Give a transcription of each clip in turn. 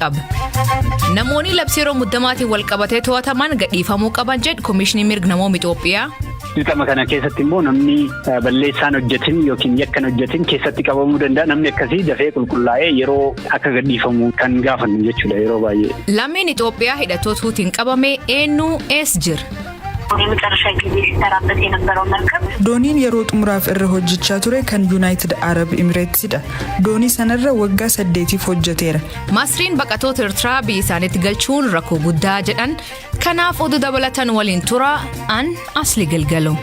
qaba. Namoonni labsii yeroo muddamaatiin wal qabatee to'ataman gadhiifamuu qaban jedhu Komishinii Mirga Namooma Itoophiyaa. Dirqama kana keessatti immoo namni balleessaan hojjetin yookiin yakkan hojjetin keessatti qabamuu danda'a. Namni akkasii dafee qulqullaa'ee yeroo akka gadhiifamu kan gaafannu jechuudha yeroo baay'ee. Lammiin Itoophiyaa hidhattoota Huutiin qabame eenyu eessa jira? Dooniin yeroo xumuraaf irra hojjechaa ture kan Yunaayitid Arab Imireetsidha. Doonii sanarra waggaa saddeetiif hojjeteera. Masriin baqatoota Ertiraa biyya isaaniitti galchuun rakkoo guddaa jedhan kanaaf oduu dabalatan waliin tura an asli galgalo.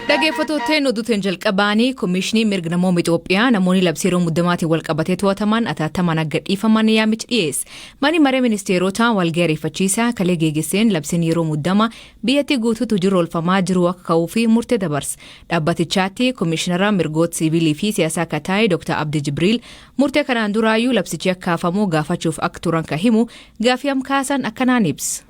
Dhageeffatooteen oduuteen jalqabaanii Komishinii Mirga Namooma Itoophiyaa namoonni labsii yeroo muddamaatiin wal qabatee to'ataman ataatamaan akka dhiifaman yaamichi dhiyeesse. Manni maree ministeerotaa walgahii ariifachiisaa kalee geegesseen labsiin yeroo muddama biyyattii guutuutti hojiirra oolfamaa jiru akka ka'uu fi murtee dabarse. Dhaabbatichaatti komishinara mirgoota siiviilii fi siyaasaa akka ta'e Dr. Abdi Jibriil murtee kanaan duraayyuu labsichi akka hafamu gaafachuuf akka turan kan himu gaafii amkaasan akkanaan ibsa.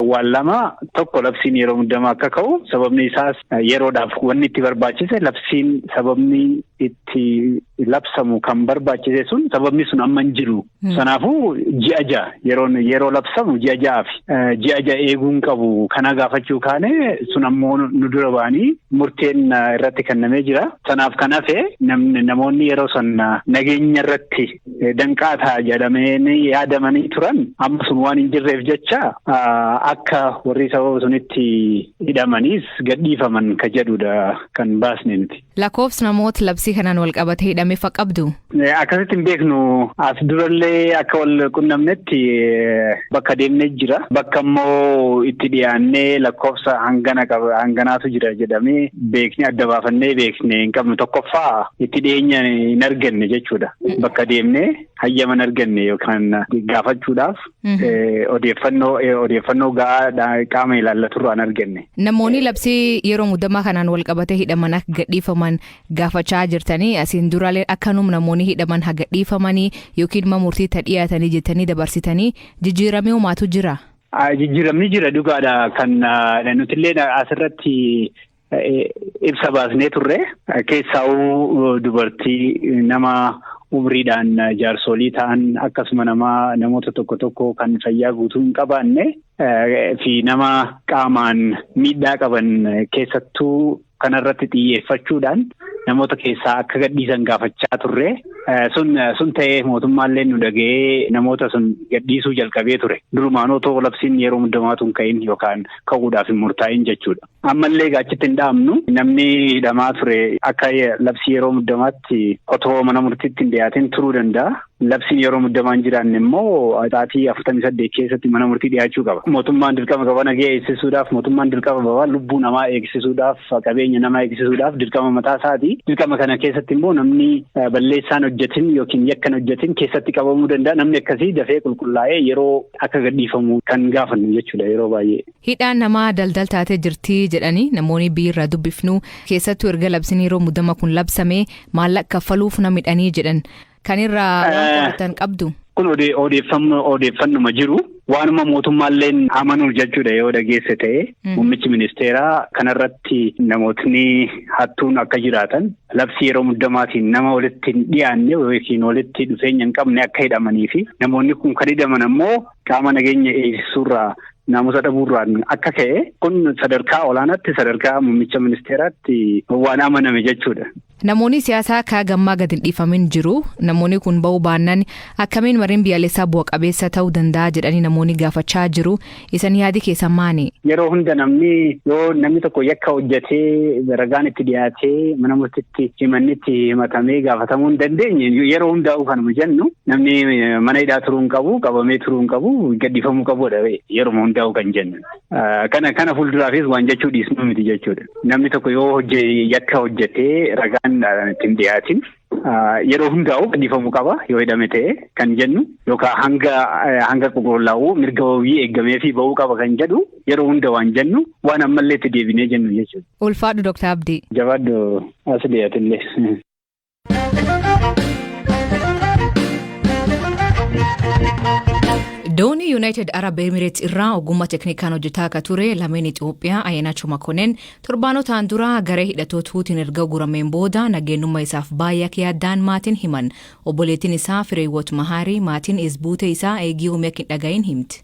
Waan lama tokko labsiin yeroo muddamaa akka ka'u sababni isaas yeroodhaaf wanni itti barbaachise labsiin sababni itti labsamu kan barbaachise sun sababni sun amma hin jiru. Kanaafuu ji'a ja'a yeroon yeroo labsamu ji'a ja'aaf ji'a ja'a eeguun qabu kana gaafachuu kaane sun ammoo nu dura ba'anii murteen irratti kennamee jira. Kanaaf kan hafe namoonni yeroo san nageenya irratti danqaa ta'a jedhamanii yaadamanii turan amma sun waan hin jirreef jecha akka warri sababa sunitti hidhamaniis gadhiifaman ka jedhudha kan baasne miti. Lakkoofsi namoota labsii kanaan wal qabatee hidhame fa qabdu. Akkasitti hin beeknu as durallee akka wal qunnamnetti Bakka deemne jira. Bakka immoo itti dhiyaannee lakkoofsa hangana qaba hanganaatu jira jedhamee beekne adda baafannee beekne hin qabnu tokkoffaa itti dhiyeenya hin arganne jechuudha. Bakka deemnee hayyama hin arganne yookaan gaafachuudhaaf odeeffannoo odeeffannoo ga'aa qaama ilaallaturraa hin arganne. Namoonni labsii yeroo muddamaa kanaan wal qabatee hidhaman akka gadhiifaman gaafachaa jirtanii asiin duraaleen akkanum namoonni hidhaman haga dhiifamanii yookiin ma murtii ta dhiyaatanii jettanii dabarsitanii jijjiiramee homaatu jira. Jijjiiramni jira dhugaadha kan nutillee asirratti ibsa baasnee turre keessaawuu dubartii nama umriidhaan jaarsolii ta'an akkasuma nama namoota tokko tokko kan fayyaa guutuu hin qabaanne fi nama qaamaan miidhaa qaban keessattuu Kana irratti xiyyeeffachuudhaan namoota keessaa akka gadhiisan gaafachaa turre. Sun sun ta'ee mootummaallee nu dhaga'ee namoota sun gadhiisuu jalqabee ture. Durumaan otoo labsiin yeroo muddamaatu hin ka'in yookaan ka'uudhaaf hin murtaa'in jechuudha. Ammallee gaachitti hin dhaabnu namni hidhamaa ture akka labsii yeroo muddamaatti otoo mana murtiitti hin dhiyaatin turuu danda'a. Labsiin yeroo muddamaa hin jiraanne immoo sa'aatii afurtamii saddeet keessatti mana murtii dhiyaachuu qaba. Mootummaan dirqama qaba nagaa eegsisuudhaaf, mootummaan dirqama qaba lubbuu namaa eegsisuudhaaf, qabeenya namaa eegsisuudhaaf dirqama mataa isaati. Dirqama kana keessatti immoo namni balleessaan hojjetin yookiin yakkan hojjetin keessatti qabamuu danda'a. Namni akkasii dafee qulqullaa'ee yeroo akka gadhiifamu kan gaafannu jechuudha yeroo baay'ee. Hidhaan namaa daldal taatee jirti jedhanii namoonni biirra dubbifnu keessattuu erga labsiin yeroo muddama kun labsame maallaqa kaffaluuf na midhanii jedhan. Kan irraa waan qorattan qabdu. Kun odeeffannuma jiru. Waanuma mootummaalleen amanuu jechuudha yoo dhageesse ta'e. Muummichi ministeeraa kanarratti namootni hattuun akka jiraatan labsii yeroo muddamaatiin nama walitti hin dhiyaanne yookiin walitti dhufeenya hin qabne akka hidhamanii fi namoonni kun kan hidhaman ammoo qaama nageenya eegsisuurraa naamusa dhabuurraan akka ka'e kun sadarkaa olaanaatti sadarkaa muummicha ministeeraatti waan amaname jechuudha. Namoonii siyaasaa kaa gammaa gad hin dhiifamin jiru. Namoonii kun ba'uu baannaan akkamiin mariin biyyaalessaa bu'a qabeessa ta'uu danda'a jedhanii namoonii gaafachaa jiru. Isan yaadi keessan maani? Yeroo hunda namni yoo namni tokko yakka hojjetee ragaan itti dhiyaatee mana murtitti himanni itti himatamee gaafatamuu hin dandeenye yeroo hundaa'uu kanuma jennu namni mana hidhaa turuu hin qabu qabamee turuu hin qabu gadhiifamuu qabudha yeruma hundaa'uu kan jennu. Kana kana fuulduraafis waan jechuu dhiisnu miti jechuudha. Namni tokko yoo yakka hojjetee ragaan ittiin dhiyaatin yeroo hundaa'u gadhiifamuu qaba yoo hidhame ta'e kan jennu yookaan hanga hanga qulqullaa'u mirga wabii eegamee fi ba'uu qaba kan jedhu yeroo hunda waan jennu waan ammallee itti deebinee jennu jechuudha. Ulfaadhu Dooktar Abdii. Jabaadhu Asliyatillee. Doonii Yuunaayitid Arab Emireets irraa ogummaa teknikaan hojjetaa akka ture lameen Itoophiyaa Ayyaanaachoo Makoneen torbaanotaan dura garee hidhatoota Huutiin erga ugurameen booda nageenyummaa isaaf baay'ee akka yaaddaan maatiin himan. Obboleettiin isaa Fireewoot Mahaarii maatiin is buutee isaa eegii hoomii akka hin dhagahin himti.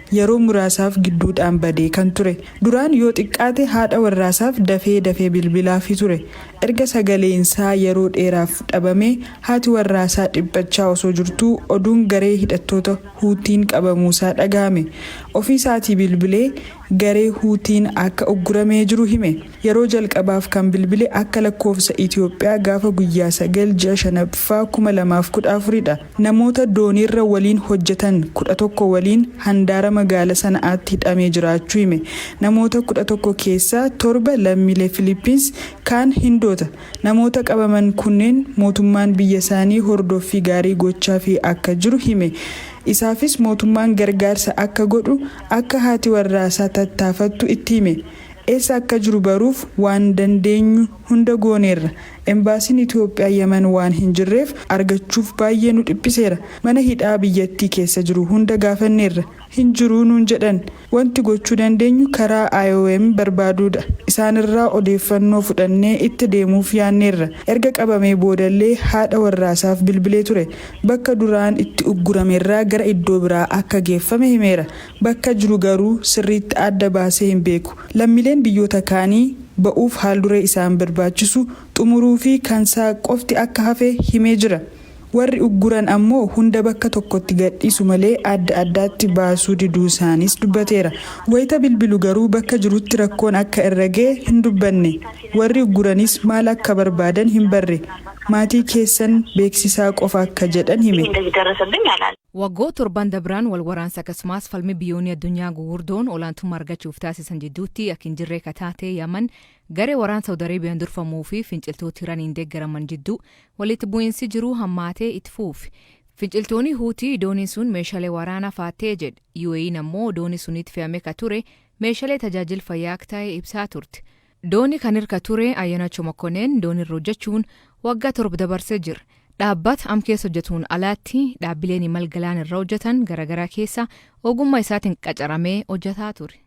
yeroo muraasaaf gidduudhaan badee kan ture. Duraan yoo xiqqaate haadha warraasaaf dafee dafee bilbilaafi ture. Erga sagaleensaa yeroo dheeraaf dhabamee haati warraasaa dhiphachaa osoo jirtuu oduun garee hidhattoota Huutiin qabamuusaa dhagahame. Ofiisaatii bilbilee garee Huutiin akka ugguramee jiru hime. Yeroo jalqabaaf kan bilbile akka lakkoofsa Itoophiyaa gaafa guyyaa 9 ji'a 5ffaa 2014dha. Namoota dooniirra waliin hojjetan kudha tokko waliin handaara magaala Sana'aatti hidhamee jiraachuu hime. Namoota kudha tokko keessaa torba lammiilee Filiippiins, kaan Hindoota. Namoota qabaman kunneen mootummaan biyyasaanii hordoffii gaarii gochaafii akka jiru hime. Isaafis mootummaan gargaarsa akka godhu akka haati warraasaa tattaafattu itti hime. Eessa akka jiru baruuf waan dandeenyu Hunda gooneerra. Embaasiin Itoophiyaa Yemen waan hin jirreef argachuuf baayyee nu dhiphiseera. Mana hidhaa biyyattii keessa jiru hunda gaafanneerra. Hin jiru nuun jedhan. Wanti gochuu dandeenyu karaa IOM barbaaduudha. Isaanirraa odeeffannoo fudhannee itti deemuuf yaanneerra. Erga qabamee boodallee haadha warraasaaf bilbilee ture. Bakka duraan itti ugguramerraa gara iddoo biraa akka geeffame himeera. Bakka jiru garuu sirriitti adda baasee hin beeku. Lammiileen biyyoota kaanii ba'uuf haalduree isaan barbaachisu xumuruufi kansaa qofti akka hafe himee jira. Warri ugguran ammoo hunda bakka tokkotti gadhiisu malee adda addaatti baasuu diduusaaniis dubbateera. Wayita bilbilu garuu bakka jirutti rakkoon akka irra ga'e hin dubbanne. Warri ugguraniis maal akka barbaadan hin barre. Maatii keessan beeksisaa qofa akka jedhan hime. Waggoo torban dabran wal waraansa akkasumaas falmi biyyoonni addunyaa gugurdoon olaantumma argachuuf taasisan jidduutti ak hin jirree ka taate Yaman garee waraan Saud Arabian durfamuu fi finciltooti Iraniin deggaraman jidduu waliitti bu'iinsi jiruu hammaatee itti fuufi. Finciltooni Huutii dooniin sun meeshalee waraana faattee jedh. UAEn ammoo dooni suniitti fe'ame ka ture meeshalee tajaajil fayyaa ak tahe ibsaa turte. Dooni kan irka ture Ayyanacho Mokkonen doonirra hojjechuun waggaa torb dabarse jir. Dhaabbat am keessa hojjetuun alaatti dhaabbileen imal galaan irra hojjetan garagaraa keessa ogumma isaatin qacaramee hojjetaa ture.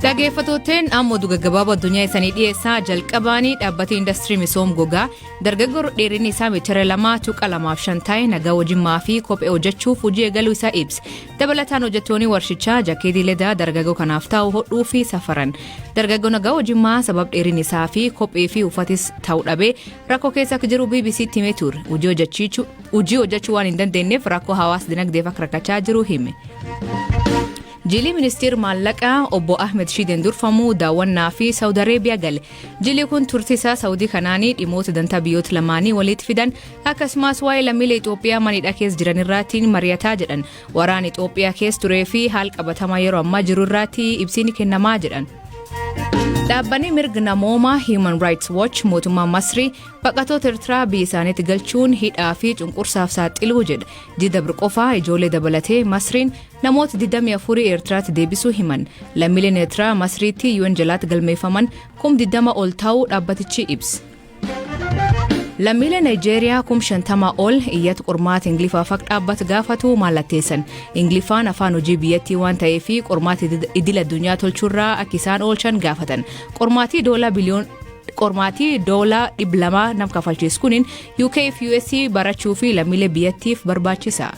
Dhageeffatooteen amma oduu gaggabaaboo addunyaa isanii dhiyeessaa jalqabaanii dhaabbati indastirii misoom gogaa Dargaggoon dheerinni isaa meetira 2.25 ta'e nagaa wajjimmaa fi kophee hojjechuuf hojii eegaluu isaa ibse. Dabalataan hojjettoonni warshichaa jakeetii ledaa dargaggoo kanaaf taa'u hodhuu fi safaran. Dargaggoo nagaa wajjimmaa sabab dheerinni isaa fi kophee fi uffatis ta'u dhabee rakkoo keessa akka jiru BBC'tti himee ture. Hojii hojjechuu waan hin dandeenyeef rakkoo hawaas dinagdeef akka rakkachaa jiru hime. Jilii ministeer maallaqaa obbo Ahmed Shiideen durfamu daawwannaa fi Saawud Areebiyaa gale. Jili kun turtii isaa Saawudii kanaanii dhimoota dantaa biyyoota lamaanii walitti fidan akkasumas waa'ee lammiilee Itoophiyaa manidha keessa jiran irraatiin mari'ataa jedhan waraana Itoophiyaa keessa turee fi haal qabatamaa yeroo ammaa jiru irraatti ibsiin kennamaa jedhan. Dhaabbanni mirga namoomaa Human Rights Watch mootummaa Masrii baqatoota Eertiraa biyya isaaniitti galchuun hidhaa fi cunqursaaf saaxiluu jedha. Jida birqofaa ijoollee dabalatee Masriin Namoota 24 Eertiraatti deebisuu himan. Lammiileen Eertiraa Masriitti UN jalaatti galmeeffaman kum 20 ol taa'uu dhaabbatichi ibse. Lammiileen Naayijeeriyaa kum 50 ol iyyata qormaata Ingiliffaa faq dhaabbata gaafatu mallatteessan. Ingiliffaan afaan hojii biyyattii waan ta'ee fi qormaata idil addunyaa tolchuurraa akka isaan oolchan gaafatan. Qormaatii doolaa biliyoon qormaatii doolaa dhibba lamaa nam kafalchiis kunin UK fi US barachuu fi lammiilee biyyattiif barbaachisa.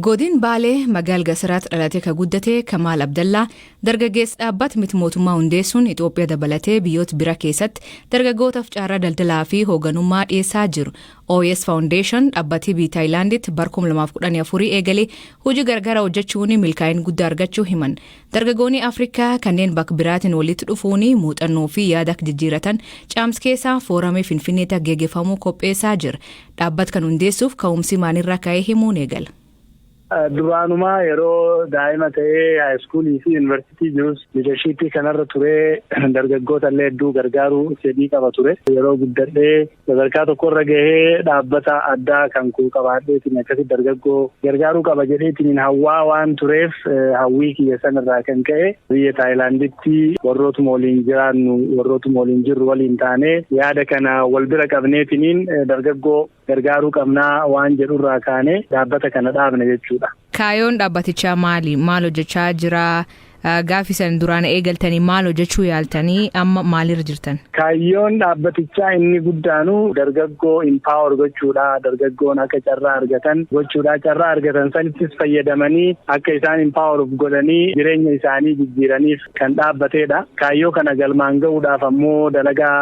Godin Baalee magaal Gasiraatti dhalatee ka guddate Kamaal Abdallaa dargaggeessi dhaabbata miti mootummaa hundeessuun Itoophiyaa dabalatee biyyoota bira keessatti dargaggootaaf carraa daldalaa fi hooganummaa dhiyeessaa jiru. OS Foundation dhaabbatii biyya Taayilaanditti bara 2014 eegalee hojii gargaraa hojjechuun milkaa'ina guddaa argachuu himan. Dargagooni Afrika kanneen bak biraatin walitti dhufuuni muuxannoo fi yaada ak jijjiiratan Caams keesaa foorame Finfinneeti ak geegefamuu kopheesaa jir. Dhaabbat kan hundeessuuf ka'umsii maalirraa ka'ee himuun eegala. Duraanumaa yeroo daa'ima ta'ee haayiskuulii fi yunivarsiitii jirus liidarshiippii kanarra turee dargaggoota illee hedduu gargaaruu fedhii qaba ture. Yeroo guddadhee Sadarkaa tokkorra gahee dhaabbata addaa kan koo qabaadheetiin akkasitti dargaggoo gargaaruu qaba jedheetiin hawwaa waan tureef hawwii kiyya sanarraa kan ka'e biyya Taayilaanditti warrootuma waliin jiraannu warrootuma waliin jirru waliin taanee yaada kana wal bira qabneetiniin dargaggoo gargaaruu qabnaa waan jedhurraa kaanee dhaabbata kana dhaabne jechuudha. Kaayoon dhaabbatichaa maali? Maal hojjechaa jira? Gaafi san duraan eegaltanii maal hojjechuu yaaltanii amma maalirra jirtan? Kaayyoon dhaabbatichaa inni guddaanu dargaggoo empower gochuudha. Dargaggoon akka carraa argatan gochuudha. Carraa argatan sanittis fayyadamanii akka isaan empower of godhanii jireenya isaanii jijjiiraniif kan dhaabbateedha. Kaayyoo kana galmaan ga'uudhaaf ammoo dalagaa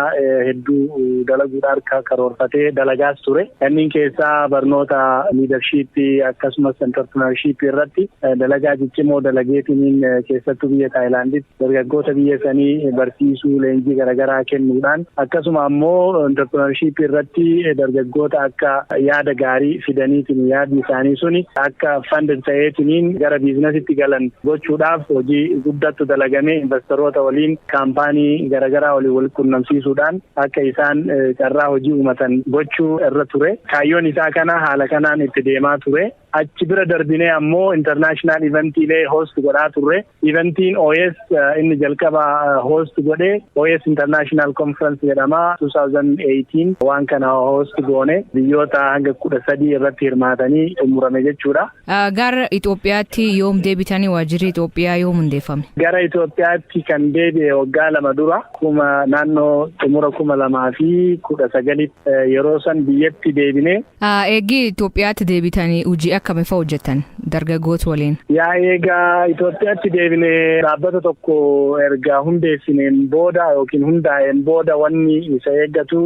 hedduu dalaguudha harka karoorfatee dalagaas ture. Kanneen keessaa barnoota leadership akkasumas entrepreneurship irratti dalagaa ciccimoo dalageetiniin keessattuu biyya Taayilaanditti dargaggoota biyya sanii barsiisuu leenjii garaagaraa kennuudhaan akkasuma ammoo intarpirinarshiippii irratti dargaggoota akka yaada gaarii fidaniitiin yaadni isaanii suni akka fanded ta'eetiniin gara biizinasitti galan gochuudhaaf hojii guddattu dalagamee investaroota waliin kaampaanii garaagaraa waliin wal qunnamsiisuudhaan akka isaan carraa hojii uumatan gochuu irra ture. Kaayyoon isaa kana haala kanaan itti deemaa ture. Achi bira darbinee ammoo international eventiilee host godhaa turre. Eventiin OS inni jalqaba host godhe OS International Conference jedhama. 2018 waan kana host goone biyyoota hanga kudha sadii irratti hirmaatanii xumurame jechuudha. Gara Itoophiyaatti yoom deebitanii waajjirri Itoophiyaa yoom hundeeffame? Gara Itoophiyaatti kan deebi'e waggaa lama dura kuma naannoo xumura kuma lamaa fi kudha sagalitti. Yeroo san biyyatti deebinee. Eegii Itoophiyaatti deebitanii hojii akkami fa'a hojjetan dargaggoota waliin? Yaa eegaa Itoophiyaatti deebine dhaabbata tokko erga hundeessineen booda yookiin hundaa'een booda wanni isa eeggatu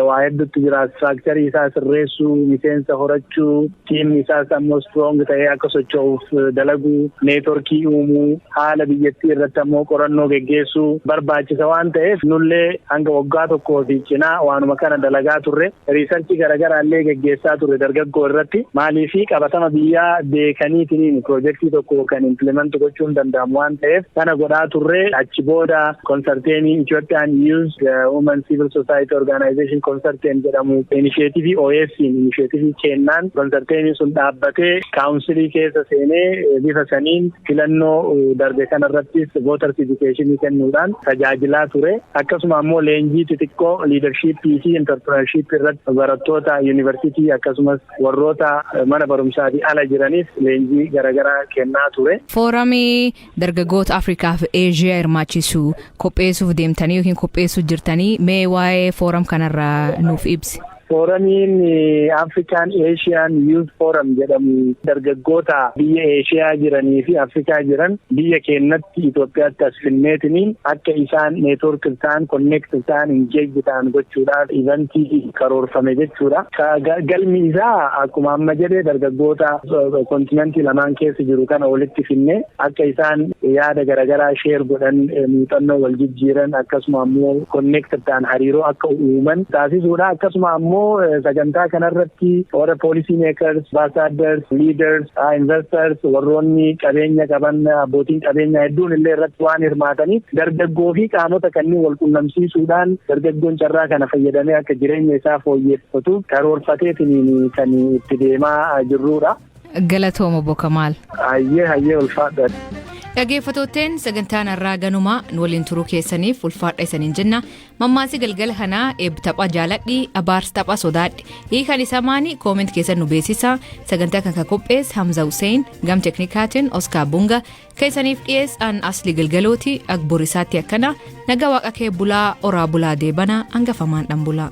waa hedduutti jira. Istiraakcharii isaa sirreessuu, miseensa horachuu, Tiimni isaas ammoo strong ta'ee akka socho'uuf dalaguu, neetworkii uumuu, haala biyyattii irratti ammoo qorannoo geggeessuu barbaachisa waan ta'eef nullee hanga waggaa tokkoo fi cinaa waanuma kana dalagaa turre. Riisarchii garagaraa illee geggeessaa turre dargaggoo irratti. Maaliif qabatama biyyaa beekaniitiin piroojektii tokko kan implement gochuun danda'amu waan ta'eef sana godhaa turre. Achi booda Konsarteenii Itoophiyaan Yuuz Wuman Siivil Sosaayiti Orgaanaayizeeshin Konsarteen jedhamu inisheetivii OFC'n inisheetivii keennaan konsarteeniin sun dhaabbatee kaawunsilii keessa seenee bifa saniin filannoo darbe kanarrattis vooters idikeeshinii kennuudhaan tajaajilaa ture. Akkasuma ammoo leenjii xixiqqoo liidarshiippii fi intarpirinarshiippii irratti barattoota yuunivarsiitii akkasumas warroota mana barumsaatii ala jiraniif leenjii garagaraa kennaa ture. Fooramii Dargagoota Afrikaa fi Eeshiyaa hirmaachisu qopheessuuf deemtanii yookiin qopheessuu jirtanii mee waa'ee fooram kanarraa nuuf ibsi. Fooramiin Afrikaan Eeshiyaan Yuuz Fooram jedhamu dargaggoota biyya Eeshiyaa jiranii fi Afrikaa jiran biyya keenyatti Itoophiyaatti as finneetiniin akka isaan neetwoork ta'an, konneekt ta'an, ingeejji ta'an gochuudhaaf ivantii karoorfame jechuudha. Galmi isaa akkuma amma jedhe dargaggoota kontinantii lamaan keessa jiru kana walitti finne akka isaan yaada garaagaraa sheer godhan muuxannoo wal jijjiiran akkasuma ammoo konneektir ta'an hariiroo akka uuman taasisuudha. Akkasuma ammoo sagantaa kanarratti warra poolisii meekars, ambaasaadars, liidars Investors warroonni qabeenya qaban abbootiin qabeenyaa hedduun illee irratti waan hirmaataniif dargaggoo fi qaamota kanneen wal qunnamsiisuudhaan dargaggoon carraa kana fayyadamee akka jireenya isaa fooyyeffatuuf karoorfateetiin kan itti deemaa jirruudha. Galatooma Bokamaal. Hayyee hayyee ulfaadha. Dhageeffattootteen sagantaan har'aa ganumaa nu waliin turuu keessaniif ulfaadha isaniin jenna Mammaasi galgala kanaa eeb tapha jaaladhi abaars tapha sodaadhi hiikan isaa maani kooment keessan nu beeksisa sagantaa kan ka qophees Hamza Hussein gam teknikaatiin Oskaar Bunga keessaniif dhiyees an asli galgalooti agbor isaatti akkana naga waaqa kee bulaa oraa bulaa deebana hangafamaan dhan bulaa.